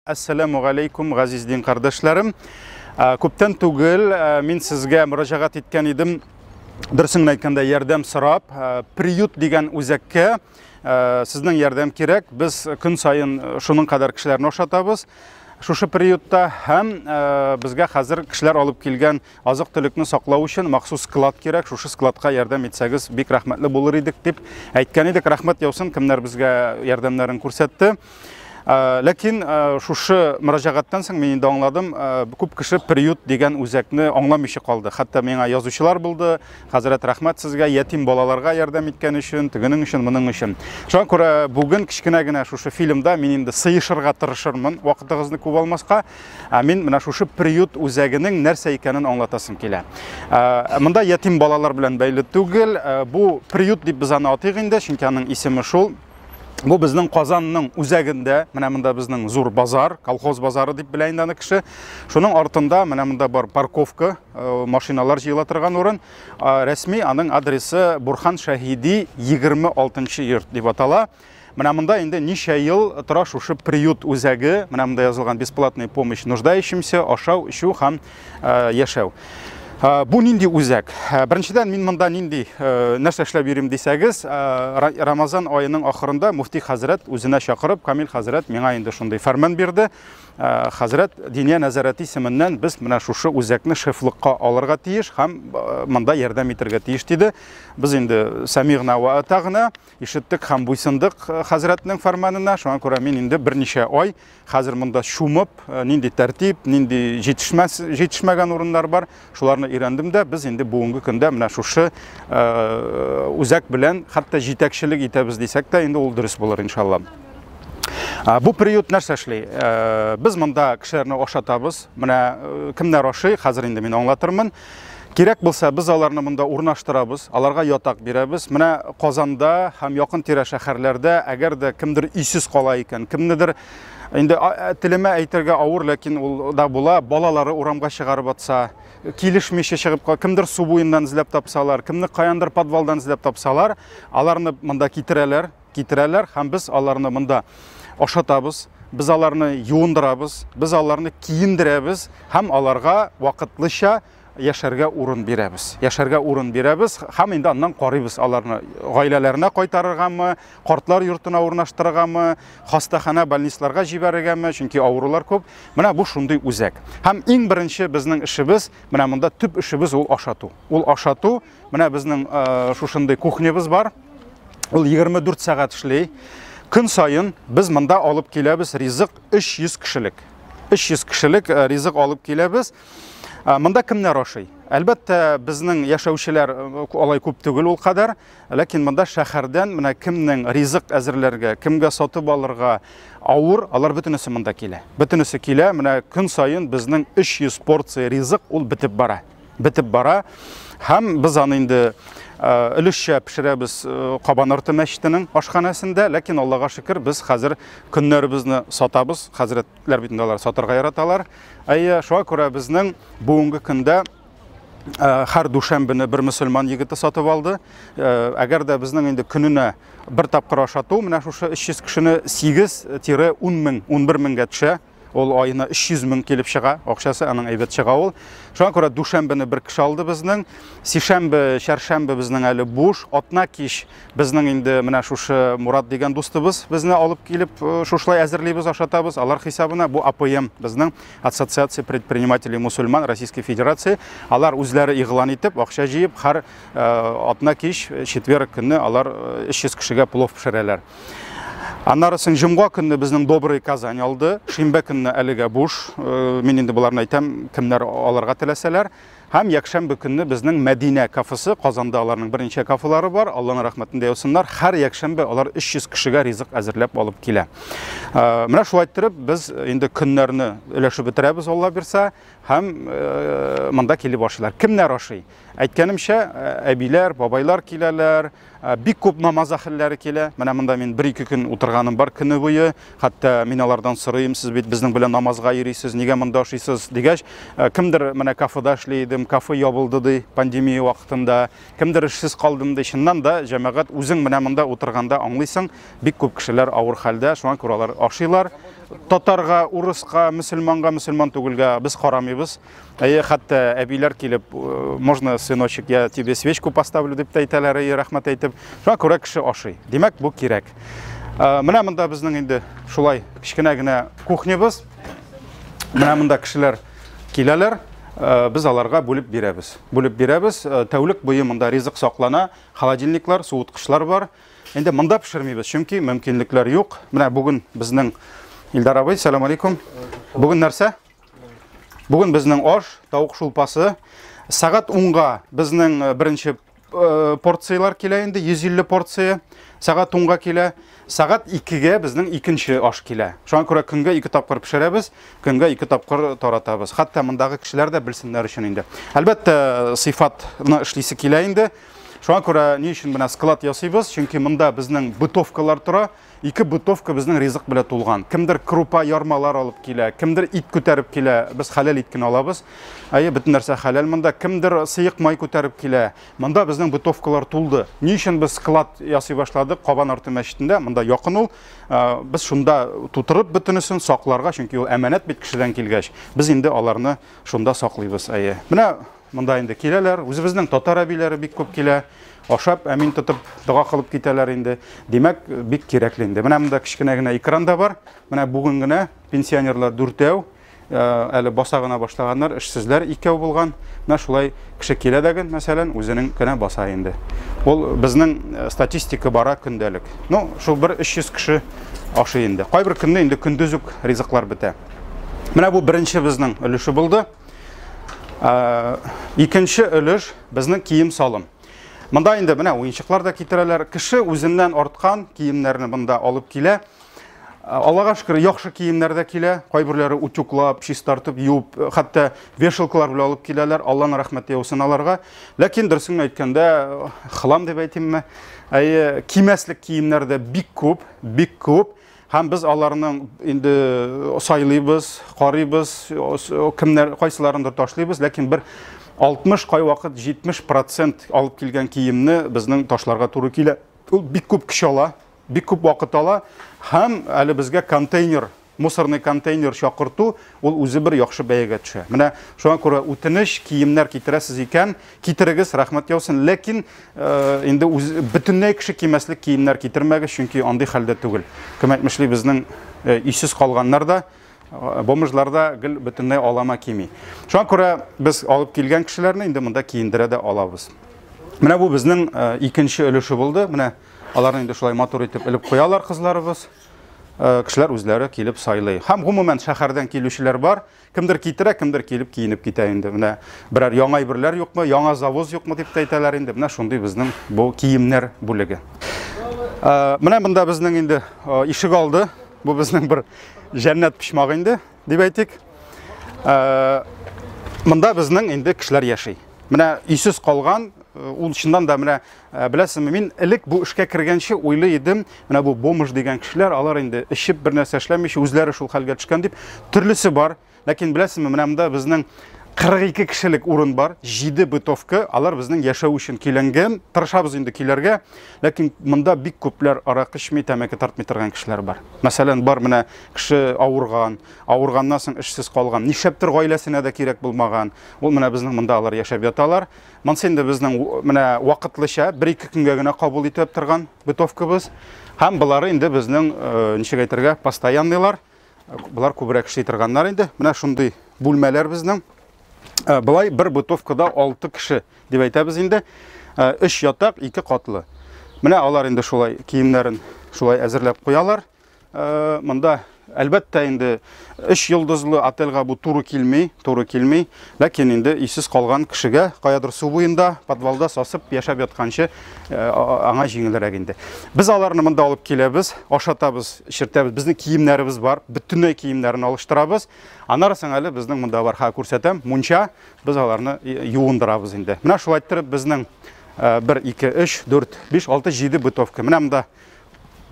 Әссәләмү галәйкүм, газиз дин кардәшләрем. Күптән түгел мин сезгә мөрәҗәгать иткән идем. Дөресен әйткәндә, ярдәм сорап, приют дигән үзәккә сезнең ярдәм кирәк. Без көн саен шуның кадәр кешеләрне ашатабыз. Шушы приютта һәм безгә хәзер кешеләр алып килгән Азык-төлекне саклау өчен махсус склад кирәк, шушы складка ярдәм итсәгез, бик рәхмәтле булыр идек, дип әйткән идек. Рәхмәт яусын, кемнәр безгә ярдәмнәрен күрсәтте. Э, ләкин э, шушы мөрәҗәгатьтән соң мин инде аңладым, э, күп кеше приют дигән үзәкне аңламыйча калды. Хәтта миңа язучылар булды. Хәзрәт рәхмәт сезгә, ятим балаларга ярдәм иткән өчен, тегенең өчен, моның өчен. Шуңа күрә бүген кечкенә генә шушы фильмда мин инде сыешырга тырышырмын, вакытыгызны күп алмаска. Ә мин менә шушы приют үзәгенең нәрсә икәнен аңлатасым килә. Ә, монда ятим балалар белән бәйле түгел, ә, бу приют дип без аны атыйк инде, чөнки аның исеме шул. Бу безнең Казанның үзәгендә, менә монда безнең зур базар, колхоз базары дип белә инде аны кеше. Шуның артында менә монда бар парковка, э, машиналар җыела торган урын. Рәсми аның адресы Бурхан Шәһиди 26 йорт дип атала. Менә монда инде ничә ел тора шушы приют үзәге, менә монда язылган бесплатный помощь нуждающимся, ашау, эчү һәм э, яшәү. Э, бу нинди үзәк? Э, беренчедән мин монда нинди нәрсә эшләп йөрим дисәгез, Рамазан аеның ахырында муфти хәзрәт үзенә чакырып, Камил хәзрәт миңа инде шундый фәрман бирде. Э, хәзрәт диния нәзарәте исеменнән без менә шушы үзәкне шефлыкка алырга тиеш һәм э, монда ярдәм итәргә тиеш диде. Без инде сәмигъна ва атагъна, Ишеттек һәм буйсындык э, хәзрәтнең фәрманына. Шуңа күрә мин инде берничә ай хәзер монда чумып, э, нинди тәртип, нинди җитешмәс, җитешмәгән урыннар бар, шуларны өйрәндем дә. Без инде бүгенге көндә менә шушы э, үзәк белән хәтта җитәкчелек итәбез дисәк тә, инде ул дөрес булыр иншалла. Бу приют нәрсә эшли? Без монда кешеләрне ашатабыз. Менә кемнәр ашый, хәзер инде мин аңлатырмын. Кирәк булса, без аларны монда урнаштырабыз, аларга ятак бирәбез. Менә Казанда һәм якын тирә шәһәрләрдә, әгәр дә кемдер өйсез кала икән, кемнедер инде телемә әйтергә авыр, ләкин ул да була, балалары урамга чыгарып атса, килешмичә чыгып кала, кемдер су буеннан эзләп тапсалар, кемне каяндыр подвалдан эзләп тапсалар, аларны монда китерәләр. китерәләр һәм без аларны монда ашатабыз, без аларны юындырабыз, без аларны киендерәбез һәм аларга вакытлыча яшәргә урын бирәбез. Яшәргә урын бирәбез һәм инде аннан карыйбыз аларны гаиләләренә кайтарыргамы, картлар йортына урнаштырыргамы, хастаханә, больницларга җибәрергәме, чөнки авырулар күп. Менә бу шундый үзәк. Һәм иң беренче безнең эшебез, менә монда төп эшебез ул ашату. Ул ашату Менә безнең шушындый кухнябыз бар. Ул 24 сәгать эшли. Көн саен без монда алып киләбез ризык 300 кешелек. 300 кешелек ризык алып киләбез. Монда кемнәр ашый? Әлбәттә, безнең яшәүчеләр алай күп түгел ул кадәр, ләкин монда шәһәрдән менә кемнең ризык әзерләргә, кемгә сатып алырга авыр, алар бөтенесе монда килә. Бөтенесе килә, менә көн саен безнең 300 порция ризык ул бетеп бара. бетеп бара. Һәм без аны инде өлешчә пешерәбез Кабан арты мәчетенең ашханәсендә, ләкин Аллага шөкер, без хәзер көннәребезне сатабыз. Хәзрәтләр бит инде алар сатарга яраталар. Әйе, шуңа күрә безнең бүгенге көндә һәр дүшәмбене бер мөселман егете сатып алды. Әгәр дә безнең инде көненә бер тапкыр ашату, менә шушы 300 кешене 8-10 мең, 11 меңгә төшә. Ул айына 300 мең килеп чыга, акчасы аның әйбәт чыга ул. Шуңа күрә дүшәмбене бер кеше алды безнең. Сишәмбе, чәршәмбе безнең әле буш. Атна кич безнең инде менә шушы Мурат дигән дустыбыз безне алып килеп, э, шушлай әзерлибез, ашатабыз. Алар хисабына бу АПМ безнең Ассоциация предпринимателей мусульман Российской Федерации. Алар үзләре игълан итеп, акча җыеп, һәр э, атна кич э, четверг көнне алар 300 кешегә плов пешерәләр. Аннары соң җомга көнне безнең Добрый Казань алды. Шимбә көнне әлегә буш. Э, мин инде боларны әйтәм, кемнәр аларга теләсәләр. Һәм якшәмбе көнне безнең Мәдинә кафесы, Казанда аларның беренче кафелары бар. Алланың рәхмәтендә яусыннар. Һәр якшәмбе алар 300 кешегә ризык әзерләп алып килә. Э, менә шулай иттереп без инде көннәрне өләшеп бетерәбез, Алла бирсә, һәм э, монда килеп ашыйлар. Кемнәр ашый? Әйткәнемчә, әбиләр, бабайлар киләләр, Ә, бик күп намаз әхелләре килә. Менә монда мин бер-ике көн утырганым бар көне буе. Хәтта мин алардан сорыйм, сез бит безнең белән намазга йөрисез, нигә монда ашыйсыз дигәч, ә, кемдер менә кафеда эшли идем, кафе ябылды ди пандемия вакытында, кемдер эшсез калдым ди. Чыннан да, җәмәгать, үзең менә монда утырганда аңлыйсың, бик күп кешеләр авыр хәлдә, шуңа күрә алар ашыйлар. Татарга, урыска, мөселманга, мөселман түгелгә без карамыйбыз. Әйе, хәтта әбиләр килеп, э, можно, сыночек, я тебе свечку поставлю дип тә әйтәләр, әйе, рәхмәт әйтеп. Шуңа күрә кеше ашый. Димәк, бу кирәк. Э, менә монда безнең инде шулай кечкенә генә кухнябыз. Менә монда кешеләр киләләр. Э, без аларга бүлеп бирәбез. Бүлеп бирәбез. Тәүлек буе монда ризык саклана, холодильниклар, суыткычлар бар. Инде монда пешермибез, чөнки мөмкинлекләр юк. Менә бүген безнең Илдар абый, сәлам алейкум. Бүген нәрсә? Бүген безнең аш, тавык шулпасы. Сәгать 10-га безнең э, беренче э, порцияләр килә инде, 150 порция. Сәгать 10-га килә. Сәгать 2-гә безнең икенче аш килә. Шуңа күрә көнгә ике тапкыр пешерәбез, көнгә ике тапкыр таратабыз. Хәтта мондагы кешеләр дә белсеннәр өчен инде. Әлбәттә, э, сыйфатны эшлисе килә инде. Шуңа күрә ни өчен менә склад ясыйбыз? Чөнки монда безнең бытовкалар тора. Ике бытовка безнең ризык белә тулган. Кемдер крупа, ярмалар алып килә, кемдер ит күтәреп килә, без хәләл ит кенә алабыз. Әйе, бөтен нәрсә хәләл монда. Кемдер сыек май күтәреп килә. Монда безнең бытовкалар тулды. Ни өчен без склад ясый башладык Кабан арты мәчетендә? Монда якын ул. Без шунда тутырып бөтенесен сакларга, чөнки ул әманәт бит кешедән килгәч. Без инде аларны шунда саклыйбыз, әйе. Менә Монда инде киләләр, үзебезнең татар әбиләре бик күп килә. Ашап, әмин тотып, дога кылып китәләр инде. Димәк, бик кирәкле инде. Менә монда кечкенә генә экран да бар. Менә бүген генә пенсионерлар дүртәү, э, әле баса гына башлаганнар, эшсезләр икәү булган. Менә шулай кеше килә дә гел, мәсәлән, үзенең генә баса инде. Ул безнең э, статистика бара көндәлек. Ну, шул бер 300 кеше ашый инде. Кайбер көнне инде көндез үк ризыклар бетә. Менә бу беренче безнең өлеше булды. Ә, икенче өлеш безнең кием салым. Монда инде менә уенчыклар да китерәләр. Кеше үзеннән арткан киемнәрне монда алып килә. Аллага шөкер, яхшы киемнәр дә килә. Кайберләре утюклап, чистартып, юып, хәтта вешалкалар белән алып киләләр. Алланың рәхмәте яусын аларга. Ләкин дөресен әйткәндә, хлам дип әйтимме? Әйе, кимәслек киемнәр дә бик күп, бик күп. Һәм без аларның инде сайлыйбыз, карыйбыз, кемнәр кайсыларындыр ташлыйбыз, ләкин бер 60 кайвакыт 70% алып килгән киемне безнең ташларга туры килә. Ул бик күп көч ала, бик күп вакыт ала һәм әле безгә контейнер, мусорный контейнер чакырту Ул үзе бер яхшы бәягә төшә. Менә шуңа күрә үтенеч, киемнәр китерәсез икән, китерегез, рәхмәт яусын. Ләкин инде үз бөтенләй кеше кимәслек киемнәр китермәгез, чөнки андый хәлдә түгел. Кем әйтмешли, безнең өйсез калганнар да, бомжлар да гел бөтенләй алама кими. Шуңа күрә без алып килгән кешеләрне инде монда киендерә дә алабыз. Менә бу безнең икенче өлеше булды. Менә аларны инде шулай матур итеп элеп куялар кызларыбыз. Э, кешеләр үзләре килеп сайлый. Һәм гомумән шәһәрдән килүчеләр бар. Кемдер китерә, кемдер килеп киенеп китә инде. Менә берәр яңа әйберләр юкмы, яңа завоз юкмы дип тә әйтәләр инде. Менә шундый безнең бу киемнәр бүлеге. Э, менә монда безнең инде э, ишек алды. Бу безнең бер җәннәт почмагы инде, дип әйтик. Монда безнең инде кешеләр яши. Менә өйсез калган, ул чыннан да менә Ә, беләсеңме, мин элек бу эшкә кергәнче уйлый идем, менә бу бомж дигән кешеләр, алар инде эчеп бер нәрсә эшләмичә үзләре шул хәлгә төшкән дип, төрлесе бар. Ләкин беләсеңме, менә монда безнең 42 кешелек урын бар, 7 бытовка, алар безнең яшәү өчен көйләнгән. Тырышабыз инде көйләргә, ләкин монда бик күпләр арак эчми, тәмәке тартмый торган кешеләр бар. Мәсәлән, бар менә кеше авырган, авырганнан соң эшсез калган, нишләптер гаиләсенә дә кирәк булмаган. Ул менә безнең монда алар яшәп яталар. Монсы инде безнең менә вакытлыча бер-ике көнгә генә кабул итеп торган бытовкабыз. Һәм болары инде безнең э, ничек әйтергә, постоянныйлар. Болар күбрәк эшли торганнар инде. Менә шундый бүлмәләр безнең. Э, Былай бер бытовкада 6 кеше дип әйтәбез инде. 3 э, ятак, 2 катлы. Менә алар инде шулай киемнәрен шулай әзерләп куялар. Э, монда әлбәттә инде өч йолдызлы отельга бу туры килми, туры килми. Ләкин инде исез калган кешегә каядыр су буенда, подвалда сасып яшәп ятканчы э, аңа җиңелрәк инде. Без аларны монда алып киләбез, ашатабыз, эшертәбез. Безнең киемнәребез бар, бөтенләй киемнәрен алыштырабыз. Аннары соң әле безнең монда бар, ха күрсәтәм, мунча, без аларны э, юындырабыз инде. Менә шулай иттереп безнең 1 2 3 4 5 6 7 бытовка. Менә монда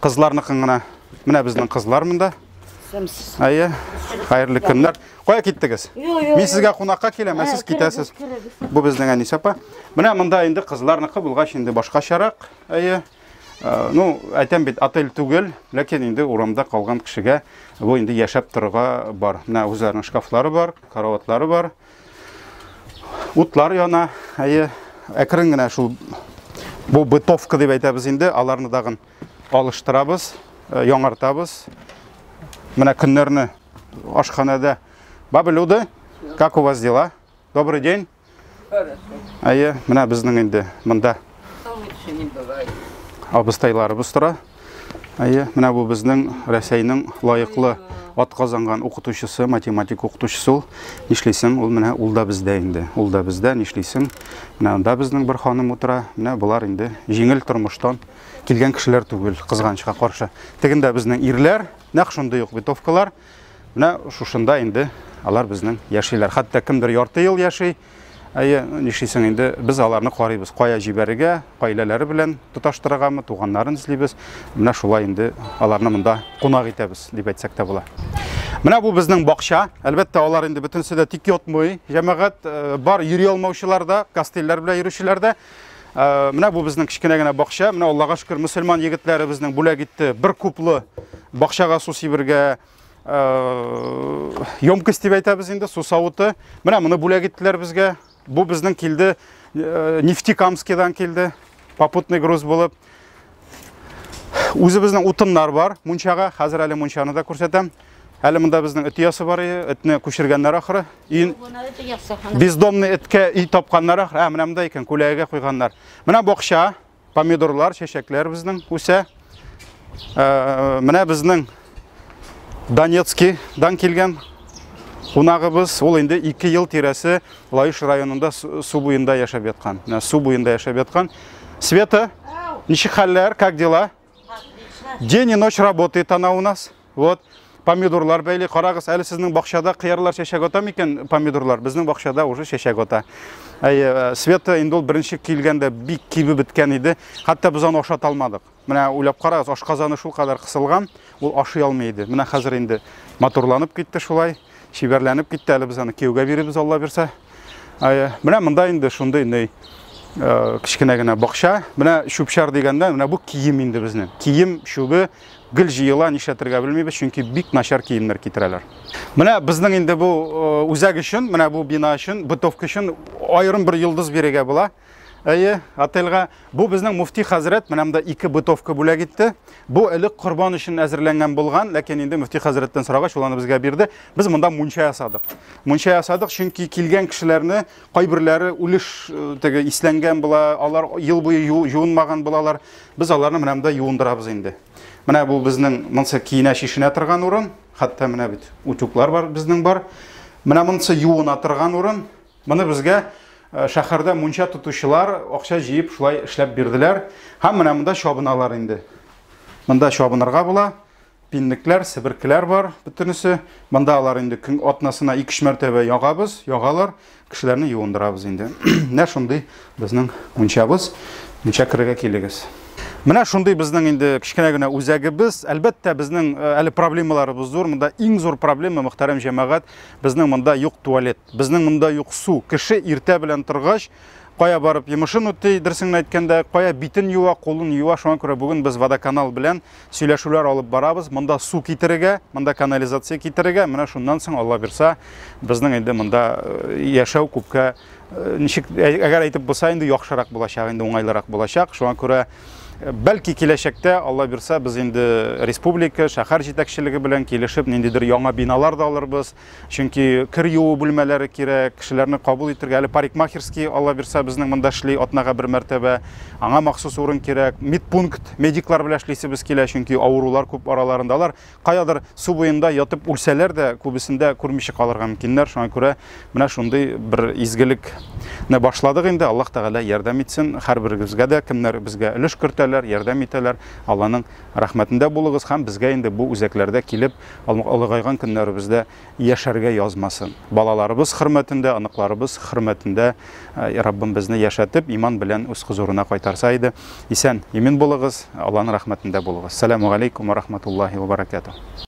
Кызларныкын гына. Менә безнең кызлар монда. Сәмсез. Әйе. Хәерле көннәр. Кая киттегез? Мин сезгә кунакка киләм, ә сез китәсез. Бу безнең Әнис апа. Менә монда инде кызларныкы булгач инде башкачарак. Әйе. Ну, әйтәм бит, отель түгел, ләкин инде урамда калган кешегә бу инде яшәп торырга бар. Менә үзләренең шкафлары бар, караватлары бар. Утлар яна, әйе, әкрен генә шул бу бытовка дип әйтәбез инде, аларны дагын алыштырабыз, э, яңартабыз. Менә көннәрне ашханәдә. Бабы Люда, как у вас дела? Добрый день. Әйе, менә безнең инде монда. Абыстайларыбыз тора. Әйе, менә бу безнең Рәсәйнең лаеклы атказанган укытучысы, математик укытучысы ул. Нишлисең, ул менә ул да бездә инде. Ул да бездә, нишлисең? Менә анда безнең бер ханым утыра. Менә болар инде җиңел тормыштан килгән кешеләр түгел, кызганычка каршы. Тегендә безнең ирләр, нәкъ шундый ук битовкалар. Менә шушында инде алар безнең яшиләр. Хәтта кемдер ярты ел яши, Әйе, нишлисең инде, без аларны карыйбыз. Кая җибәрергә, гаиләләре белән тоташтырыргамы, туганнарын эзлибез. Менә шулай инде аларны монда кунак итәбез, дип әйтсәк тә була. Менә бу безнең бакча. Әлбәттә, алар инде бөтенесе дә тик ятмый. Җәмәгать э, бар, йөри алмаучылар да, костыльләр белән йөрүчеләр дә. Э, менә бу безнең кечкенә генә бакча. Менә Аллага шөкер, мөселман егетләре безнең бүләк итте бер куплы бакчага су сибергә, емкость дип әйтәбез инде су савыты менә моны бүләк иттеләр безгә бу безнең килде нефтекамскидан килде попутный груз булып үзебезнең утыннар бар мунчага хәзер әле мунчаны да күрсәтәм әле монда безнең эт оясы бар этне күчергәннәр ахры бездомный эткә өй тапканнар ахры ә менә монда икән күләгәгә куйганнар менә бакча Помидорлар, чәчәкләр безнең үсә. Э, менә безнең Донецкидан килгән кунагыбыз, ул инде 2 ел тирәсе Лаеш районында су буенда яшәп яткан. Менә су буенда яшәп яткан. Света, ничек хәлләр, как дела? День и ночь работает она у нас. Вот. Помидорлар бәйле, карагыз, әле сезнең бакчада кыярлар чәчәк ата микән помидорлар? Безнең бакчада уже чәчәк ата. Әйе, э, Света инде ул беренче килгәндә бик кибе беткән иде. Хәтта без аны ашата алмадык. Менә уйлап карагыз, ашказаны шул кадәр кысылган, ул ашый алмый иде. Менә хәзер инде матурланып китте шулай, чибәрләнеп китте. Әле без аны кияүгә биребез, Алла бирсә. Менә монда инде шундый ней э, кечкенә генә бакча. Менә чүпчар дигәндә, менә бу кием инде безнең. Кием чүбе гел җыела, нишләтергә белмибез, чөнки бик начар киемнәр китерәләр. Менә безнең инде бу э, үзәк өчен, менә бу бина өчен, бытовка өчен аерым бер йолдыз бирергә була. Әйе, отельга бу безнең муфти хәзрәт менә монда ике бытовка бүләк итте. Бу элек корбан өчен әзерләнгән булган, ләкин инде муфти хәзрәттән сорагач ул аны безгә бирде. Без монда мунча ясадык. Мунча ясадык, чөнки килгән кешеләрне кайберләре үлеш э, теге исләнгән була, алар ел буе юынмаган булалар. Без аларны менә монда юындырабыз инде. Менә бу безнең монсы киенә чишенә торган урын, хәтта менә бит утюглар бар безнең бар. Менә монсы юына торган урын. Моны безгә шәһәрдә мунча тотучылар акча җыеп шулай эшләп бирделәр. Һәм менә монда чабыналар инде. Монда чабынырга була. Пинлекләр, себеркеләр бар бөтенесе. Монда алар инде көн атнасына 2-3 мәртәбә ягабыз, ягалар. Кешеләрне юындырабыз инде. Менә шундый безнең мунчабыз. Мунча керергә килегез. Менә шундый безнең инде кечкенә генә үзәгебез. Әлбәттә, безнең әле проблемаларыбыз зур. Монда иң зур проблема, мөхтәрәм җәмәгать, Безнең монда юк туалет, безнең монда юк су. Кеше иртә белән торгач, кая барып йомышын үти, дөресен әйткәндә, кая битен юа, кулын юа. Шуңа күрә бүген без водоканал белән сөйләшүләр алып барабыз. Монда су китерергә, монда канализация китерергә. Менә шуннан соң Алла бирса, безнең инде монда э, яшәү күпкә Ничек әгәр әйтеп булса инде яхшырак булачак, инде уңайлырак булачак. Шуңа күрә бәлки киләчәктә Алла бирсә без инде республика, шәһәр җитәкчелеге белән килешеп ниндидер яңа биналар да алырбыз. Чөнки кер юу бүлмәләре кирәк, кешеләрне кабул итергә. Әле парикмахерский Алла бирсә безнең монда эшли атнага бер мәртәбә. Аңа махсус урын кирәк. Медпункт, медиклар белән эшлисебез килә, чөнки авырулар күп араларында алар каядыр су буенда ятып үлсәләр дә, күбесендә күрмичә калырга мөмкиннәр. Шуңа күрә менә шундый бер изгелекне башладык инде. Аллаһ Тәгалә ярдәм итсен. Һәрберегезгә дә кемнәр безгә өлеш кертәләр, ярдәм итәләр, Алланың рәхмәтендә булыгыз һәм безгә инде бу үзәкләрдә килеп, олыгайган көннәребездә яшәргә язмасын. Балаларыбыз хөрмәтендә, оныкларыбыз хөрмәтендә Раббым безне яшәтеп, иман белән үз хозурына кайтарса иде. Исән, имин булыгыз, Алланың рәхмәтендә булыгыз. Сәламу галейкум ва рахматуллахи ва баракатуһ.